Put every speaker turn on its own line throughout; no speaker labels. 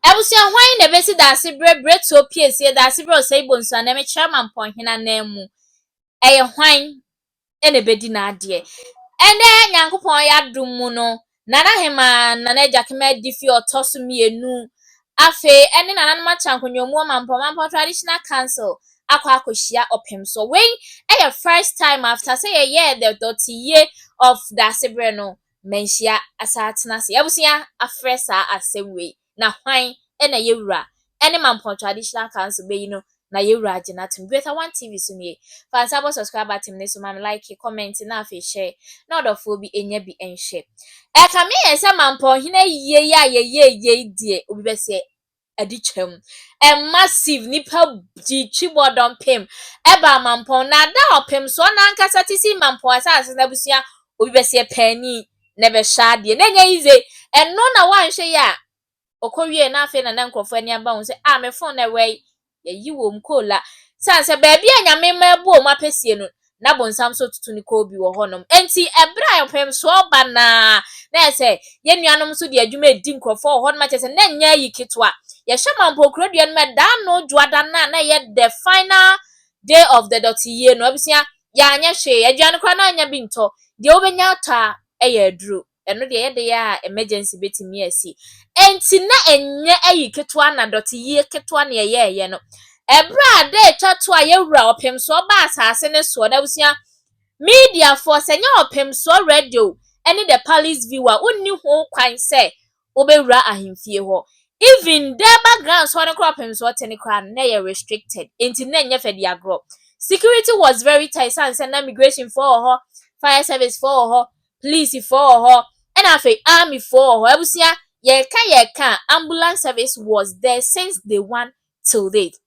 Abusua hwan na ebesi dase bere bere tuo piesie dase bere ɔsɛe bonsu anaa mekyerɛ ma mpɔnhene ananmu? Ɛyɛ hwan na ebedi n'adeɛ? Ɛnnɛ Nyankopɔn y'adom mu no, Nana Hemaa, Nana Agyakema Adifi ɔtɔ so mmienu, afei ɛne Nananom Akyɛnkonyomu Ɔmampɔn, Ɔmampɔn Traditional Council, akɔ akɔhyia ɔpem so. Wei yɛ first time after sɛ yɛyɛɛ the dɔteyie of dase bere no. manhyia asaatena ase abusua afrɛ saa asɛm wei na hwan na yɛ wura ɛne Mampɔn traditional council bɛyi no na yɛ wura agye no atom Greater one TV so nie fa nsa bɔ subscribe button no so ma me like comment na afei share na ɔdɔfoɔ bi ɛnya bi ɛnhwɛ ɛkame yɛn sɛ Mampɔn hene ayie yi a yɛyɛɛ yei deɛ obi bɛsɛ adi kyɛm. Ɛmma siv nnipa di twibɔ dɔmpem ɛba mampɔn na da ɔpem soɔ na ankasa te si mampɔn asase na abusua obi bɛseɛ paani na ɛbɛhyɛ adeɛ na ɛnyɛ yize ɛno na woanhwɛ yie a ɔkɔ wie na afei na na nkurɔfoɔ ani aba ho sɛ ah me fon na ɛwɛe Yɛyi wom koo la. Esiane sɛ baabi a Nyame rema abu wɔn apɛsie no, na bonsam nso retutu ne koo bi wɔ hɔnom nti, ɛberɛ a mpɛmsoɔ reba no ara, na ɛyɛ sɛ yɛn nuanom nso de adwuma redi nkurɔfoɔ wɔ hɔnom, kyerɛ sɛ, na ɛnyɛ ayi ketewa. Yɛhwɛ ma Mpɔkurodua no mu ɛda ano Dwoada no a na ɛyɛ the final day of the dɔteyie no, abusua, yɛanyɛ hwee. Aduane koraa na annya bi ntɔ. Deɛ wobɛnya atɔ a, ɛyɛ aduro. Ɛno deɛ ɛyɛ de yɛ a emergency bɛtumi asi. Enti na ɛnyɛ ayi ketewa na dɔteyie ketewa na yɛyɛeɛ no. Ɛberɛ a da ɛtwa toɔ a yɛwura ɔpemsoɔ baa asase no soɔ no, abusua, mediafoɔ, sɛ ɛnyɛ ɔpemsoɔ radio ne the palace view a, wonni ho kwan sɛ wobɛwura ahemfie hɔ. Even Durbar Grand Sɔre no koraa ɔpemsoɔ te no koraa no, na ɛyɛ restricted. Enti na ɛnyɛ fɛ de agorɔ. Security was very tight, ɛsiane sɛ na migrationfoɔ wɔ hɔ, fire servicefoɔ wɔ hɔ, Police foɔ wɔ hɔ ɛna afei army foɔ wɔ hɔ abusua yɛka yɛka ambulance service was there since day one till date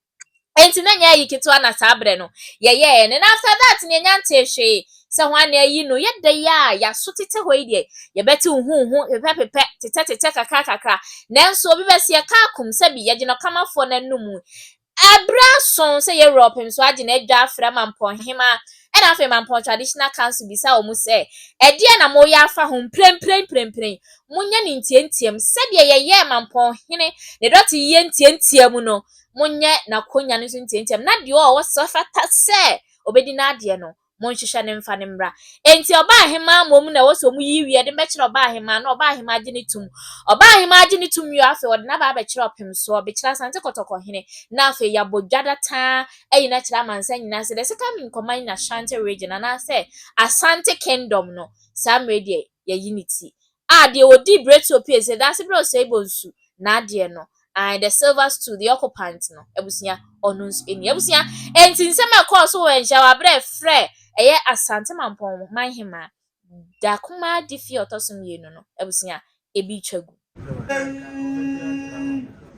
ɛnti na nyɛ ayi ketewa na saa berɛ no yɛyɛ ɛne na after that ne ɛnya ntee hwee sɛ ho ane ayi no yɛda yi a yɛaso tete hɔ yi deɛ yɛbɛte huhu pepɛ pepɛ tetɛ tetɛ kakra kakra nanso obi bɛsi yɛka akum sɛbi yɛgyina ɔkamafoɔ no anum Bere aso sɛ Europe nso agye n'adwa afrɛ Mampong Hemaa, ɛnna afei Mampong Traditional Council bisaa wɔn sɛ, Ɛdeɛn na moreyɛ afa ho? Mprempren, mprempren, monyɛ no ntiantiam, sɛdeɛ yɛyɛɛ Mampong Hene ne dɔteyɛ ntiantiam no, monyɛ n'akonnwa no nso ntiantiam, na deɛ ɔwɔ sɛ ɔfata sɛ ɔbɛdi n'adeɛ no, Monhwehwɛ no mfa no mmra. Enti ɔbaahemaa mmom na ɛwɔ sɛ wɔyi wie de bɛkyerɛ ɔbaahemaa na ɔbaahemaa gye ne tom. Ɔbaahemaa gye ne tom wie a, afei wɔde no aba abɛkyerɛ ɔpemsoɔ, bɛkyerɛ Asante Kɔtɔkɔ hene, na afei yɛabɔ dwada taa ayi no akyerɛ amansan nyinaa sɛ the second in command in Ashanti region anaasɛ Asante Kingdom no, saa mmerɛ yi deɛ yɛayi ne ti. A deɛ ɔdii Bretio pie sɛ Daase brɛ Oseibo nsu n'adeɛ no ae the silver stool the occupant no abusua ɔno nso ni abusua Enti nsɛm a ɛkɔɔ so wɔ Anhyiawa berɛ a ɛfrɛ ɛyɛ Asante Mampɔn man hemaa Da Kumadi fie a ɔtɔ so mmienu no abusua ebi twa gu.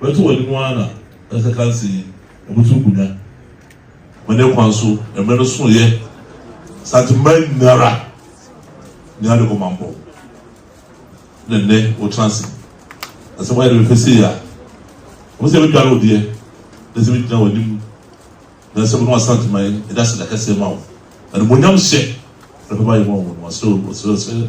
Bɛto wɔn anim ara na ɛsɛ kanse yi wɔbɛtu nkonnwa. Wɔ ne kwan so mmerɛ no soeɛ Asante mmaa nyinara nyaa ne kɔmampɔ na nnɛ wɔtena ase. Na sɛ moayɛ ne bɛfɛ sei a ɛwɔ sɛ bɛdware wo deɛ na sɛ bɛgyina w'anim na sɛ mo ne Asante man ɛde aseda kɛseɛ ma wo. Animuonyam hyɛ na pɛpa yɛ ma wo. Wɔsrɛ wo, wɔsrɛ sɛ.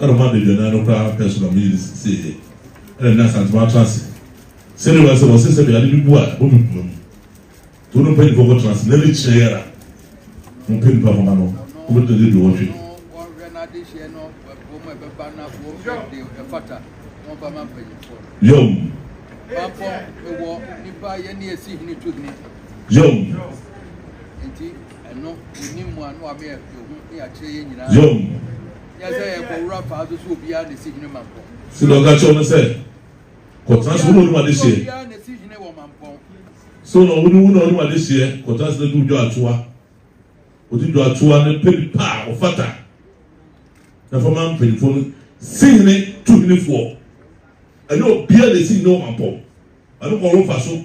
Ɛna ɔmo adaduanan no koraa pɛɛ so na ɔmo yere sieeɛ. Ɛna na Asantewaa atena ase. Sɛdeɛ ɔbɛyɛ sɛ wɔse sɛ bɛyɛ ade bi bu a ɛbɔ me poma mu. Nti wo ne wo mpanyinfoɔ nkɔ tena ase na ne kyerɛ yi ara mo pɛ nipa kɔma no. Ɔmo tena ase aduɔwɔtwe. Yom. Yom. Yom. Nyɛ sɛ yɛkɔ wura faa so sɛ obiara na esi hene mampɔn. Sila ɔka kyerɛɛ wɔn sɛ, Kɔtena ase, wo na wonim adehyeɛ. Obiara obiara na esi hene wɔ mampɔn. So na wo ne wo na wonim adehyeɛ? Kɔtena ase na di wo dwatoa. Ɔdi dwatoa no pɛ nipa a ɔfata, na fa ma mpanimfoɔ no. Si hene tu henefoɔ. Ɛnyɛ obiara na esi hene wɔ mampɔn. Ɛno kɔ wo mfaso,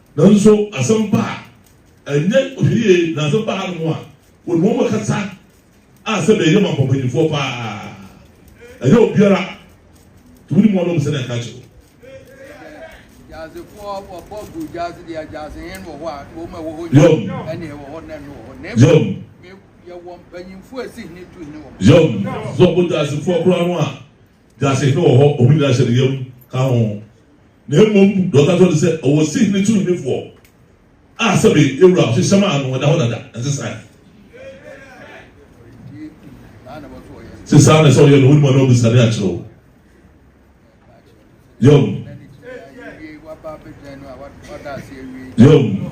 Nanso asɛmpa a ɛnyɛ ɔhwɛ yie na asɛm ba hanom a, wɔnim wɔn bɛkasa a sɛdeɛ ɛyɛ ma mpɔmpanyinfoɔ pa ara. Ɛnyɛ obiara nti wonim wɔn a wɔpɛ sɛ na ɛka akyerɛ wo. Yom. Yom. Yom. Sɛ ɔbɔ dwasefoɔ koraa no a. Gya sihene wɔ hɔ, wɔn nyinaa hyɛ ne yam ka ho. Na mmom deɛ ɔka kyerɛ no sɛ, ɔwɔ sihene so henefoɔ a sɛbe yɛn wura ɔhyehyɛ maa no, ɛda hɔ dada, ɛnsesae. Se saa na sɛ ɔyɛ no, wonim a na ɔbɛsane akyerɛ wo. Yom. Yom.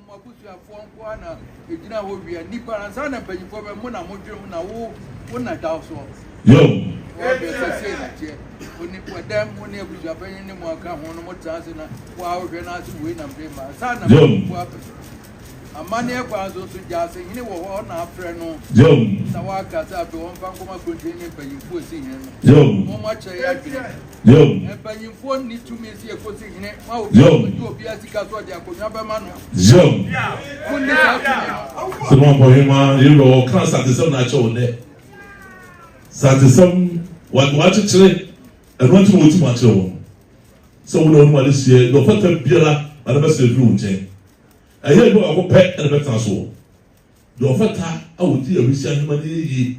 Mo abusuafoɔ nko ara na ɛgyina hɔ wia nnipa ansa na mpanyinfoɔ bɛ mo na mo dwene ho na wo wo na daw soɔ ɔɔ bɛ sɛ sei na teɛ oni wɔ dɛm mo ne abusuapanyin ne mo aka ho no mo tena ase na waa wohwɛ na ase wei na mede ma ansa na mpanyinfoɔ abɛ amanneɛ kwan so nso gya ase hene wɔ hɔ na afrɛ no na waaka sɛ afei wɔmfa nkɔma kurontini ne mpanyinfoɔ si hene no wɔn akyerɛ yɛ adwene Yob. Mpanyimfoɔ nni tumi nsi ekosi hene ma obi a ɔbɛgye obi a sika so ɔde akonnwa bɛma no. Yob. Munni saa tumi no. Sɛma mpɔhema yɛwura wɔ kan satesɛm na akyɛ wɔn dɛ satesɛm wakyekyere ɛno nti na wɔtumi akyerɛ wɔn sɛ wɔn na wɔn mu ade seɛ deɛ ɔfata biara ade bɛsɛ ɛduru wo nkyɛn ɛyɛ ɛdɔ akɔpɛ ɛna bɛtena soɔ Deɛ ɔfata a ɔdi awisiaa nnwuma no yɛ yie,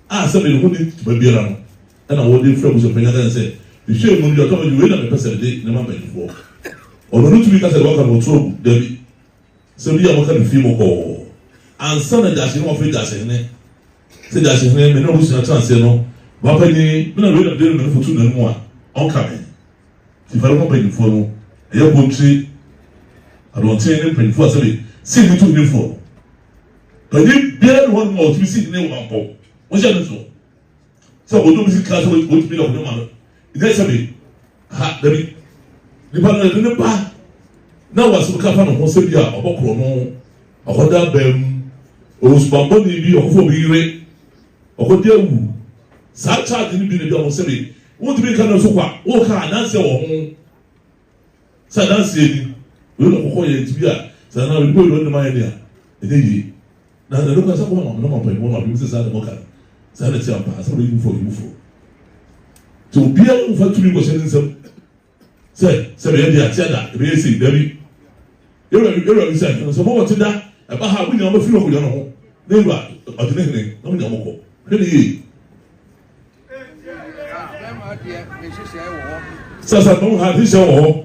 a sɛdeɛ ne ho nni dwuma biara no na wɔde frɛ abusuafoɔ nyinaa ka kyerɛ no sɛ, Mehwɛɛ mu no, deɛ ɔtɔ no, wei na mepɛ sɛ mede ne ma mpanimfoɔ. Ɔno no tumi ka sɛ deɛ wɔaka no wɔto agu, dabi, sɛ bi a wɔka no fii mu kɔɔ. Ansa na Gyahyehene wɔfrɛ Gyahyehene sɛ, Gyahyehene, me ne w'abusua tena aseɛ no, m'apanin, me na wei na mede rema no foto n'anom a, ɔnka me. Kyifɛr ho mpanyimfo no yɛ Bontri, Adɔntsen ne mpanyimfo a sɛbe si hene tum nyi foɔ no. Panyin biara nni hɔnom a ɔtumi si hene wɔ mpɔw. Wohyɛ no nsoɔ sɛ ɔdɔ bi sika sɛ ɔtumi de ahoni ma no, nyɛ sɛbe ha, dabi. Nipa no de ne ba na wasɛm ka fa ne ho sɛ bi a ɔbɔkorɔ no akɔda baa mu, ɔwɔ subammɔne bi, ɔkɔfa obi yere, ɔkɔda awu. Saa charge no bi na bi a wɔn sɛbe Wontumi nka no nso kwa. Woka adanseɛ wɔ ho sɛ adanseɛ ni. Wei na ɔkɔkɔ yɛ nti bi a sɛ na nipa wei ɔnne ma yɛ nea ɛnyɛ yie. Na na ɛdokɔ sɛ kɔma ma mene ma mpanyinfoɔ ma binom sɛ saa na mɔka no. Saa na ɛte ampa. Asɛm no yɛ mufoɔ yɛ mufoɔ. Nti obiara mfa tumi nkɔhyɛ ne nsam. sɛ sɛ bɛyɛ de ate ada ɛbɛyɛ sei dabi yɛwura bi yɛwura bi sɛ ɛno sɛ mɔwɔ te da ɛba ha mo nyinaa mɔfiri ɔmo yɛ no ho ne wura ɔte ne hene na mo nyinaa mɔkɔ hwɛ ne yie sɛ sɛ mo ha nhyehyɛ wɔ hɔ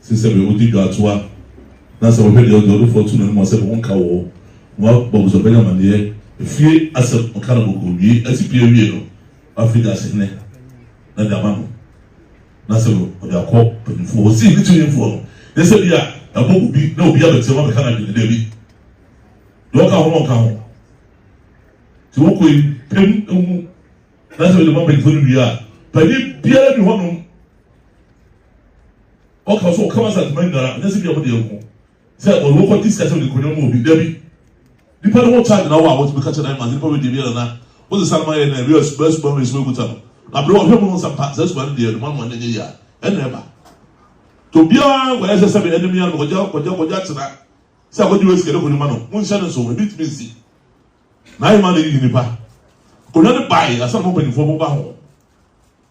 Sen sɛ bɛyɛ wo de dwatoa na sɛ wohwɛ deɛ ɔdeɛ ɔde fɔɔ to n'anim a sɛ bɛ ho nka wɔ hɔ na wa bɔ abusuapanin amaneɛ. Efie asɛm ɔka no bɔkɔɔ wie ɛte pie awie no wa firi gyaase hene na de ama no na sɛ bɛ ɔde akɔ panyinfoɔ hɔ sei ne tiri nfoɔ no yɛ sɛ bia ɛbɔ gu bi na obi abɛteam abɛka n'adwene daabi deɛ ɔka ho no ɔnka ho ti wo kɔ yi pem ehu na sɛ bɛ de ma panyinfoɔ no wie a panyin biara ni hɔ nom ɔka so ɔka masa ntoma nyinaa ɛnyɛ sɛ bi a wɔde ɛko sɛ ɔde wɔkɔ di sikasɛm de kɔnyɛ mu obi dabi nipa de wɔkya nyina wɔ a wɔtumi ka kyɛ na ɛma nipa wɔ debi yɛrɛ na wɔde sanoma yɛ na ɛwia suba suba wɔ esuba ekuta no na bere wɔhwɛ mu no nsa mpa sɛ suba no deɛ ɛduma no wɔn nyɛ yia ɛna ɛba to biara wɔyɛ sɛ sɛbi ɛnim yɛn no kɔgya kɔgya kɔgya tena sɛ akɔgye wɔ esikɛde kɔ nipa no mo nhyɛ ne nso ebi tumi nsi na ayɛ ma na eyi nipa kɔnya ne baayi asan mo mpanyinfoɔ mo ba ho.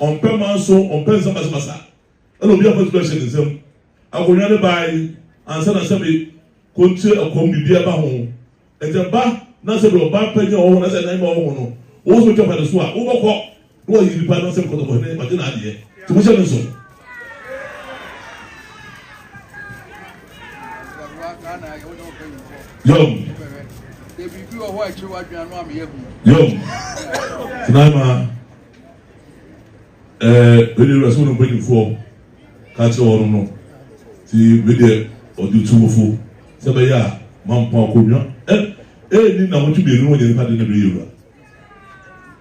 Ɔmpɛ manso, ɔmpɛ nsɛm basabasa. Ɛna obi afa tumi ahyɛ ne nsam. Akonnwa no bae ansa na sɛbe kontie ɛkɔm biribi ɛba ho. Enti ɛba na sɛbe ɔba panyin a ɔwɔ ho na sɛ ɛnan ma ɔwɔ ho no, wɔn so twa fa ne so a, wobɛkɔ na wɔayi nipa na sɛbe kɔtɔkɔ hene wagye n'adeɛ. Nti mohyɛ me nso. Yom.
Yom.
Tinaima. Ɛɛ, ɛnna Ewurasom no mpanyimfoɔ ka kyerɛɛ wɔnom no, Nti me deɛ ɔde tu mo fo sɛ ɛbɛyɛ a moampa akonnwa? Ɛ, ɛnni nnawɔtwe mmienu no wɔnyɛ nnipa de na bɛyɛ wura.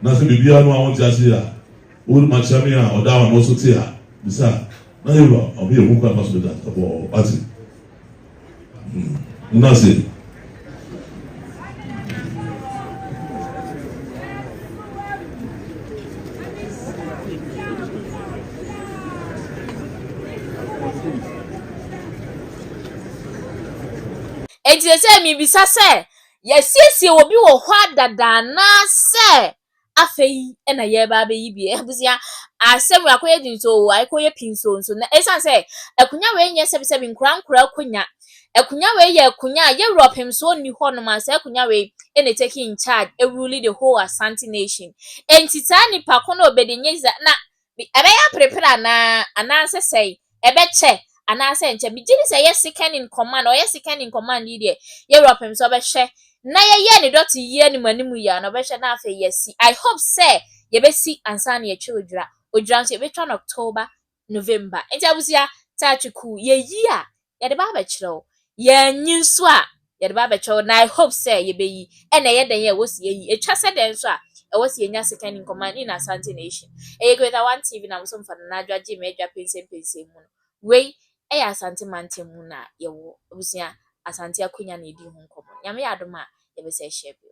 Na sɛ biribiara no a wonte aseɛ a, wode ma kyerɛ me a ɔda a ano so te a, bisa, na yɛwura, ɔno yɛ hu kwan a ɛfa so bɛda, ɛbɔ, wate? Nase.
Enti sɛ mebisa sɛ, yɛasiesie obi wɔ hɔ dada anaasɛ afei na yɛreba abɛyi bi. Abusua, asɛm wei akɔyɛ den so o, akɔyɛ pii so nso. Na ɛsiane sɛ akonnwa wei nyɛ sɛbisɛbi nkoraa nkoraa akonnwa. Akonnwa wei yɛ akonnwa a Europe mfomsoɔ nni hɔ nom a saa akonnwa wei na ɛtake in charge, ɛruli the whole Asante nation. Ɛnti saa nipa ko no ɔbɛdi nyɛ dza na Me ɛbɛyɛ aperepere anaa? Anaasɛ sɛn? Ɛbɛkyɛ anaasɛ ɛnkyɛ? Megye di sɛ ɛyɛ second in command, ɔyɛ second in command yi deɛ, yɛn wura pɛm sɛ ɔbɛhwɛ na yɛyɛ ne dɔte yie anim anim yie a na ɔbɛhwɛ na afei yɛasi. I hope sɛ yɛbɛsi ansa na yɛatwa odwira. Odwira nso yɛbɛtwa no October, November. Nti abusua, Taakye Kuu, yɛyi a, yɛde ba abɛkyerɛ wo. Yɛannyi nso a, yɛde ba abɛkyerɛ wo, na I hope sɛ yɛbɛyi. Ɛna ɛyɛ dɛn a ɛwɔ sɛ yɛyi? Ɛtwa sɛ dɛn nso a ɛwɔ sɛ yɛnya second in command in Asante nation? Ɛyɛ Greater One TV na mosom fa Nana Adwoa gyee me adwa pensempensem mu no. Wei ɛyɛ Asante mantam mu na yɛwɔ. Abusua, Asante akonya na yɛdi ho nkɔmmɔ. Nyame yɛ adom a, yɛbɛsan ahyia bio.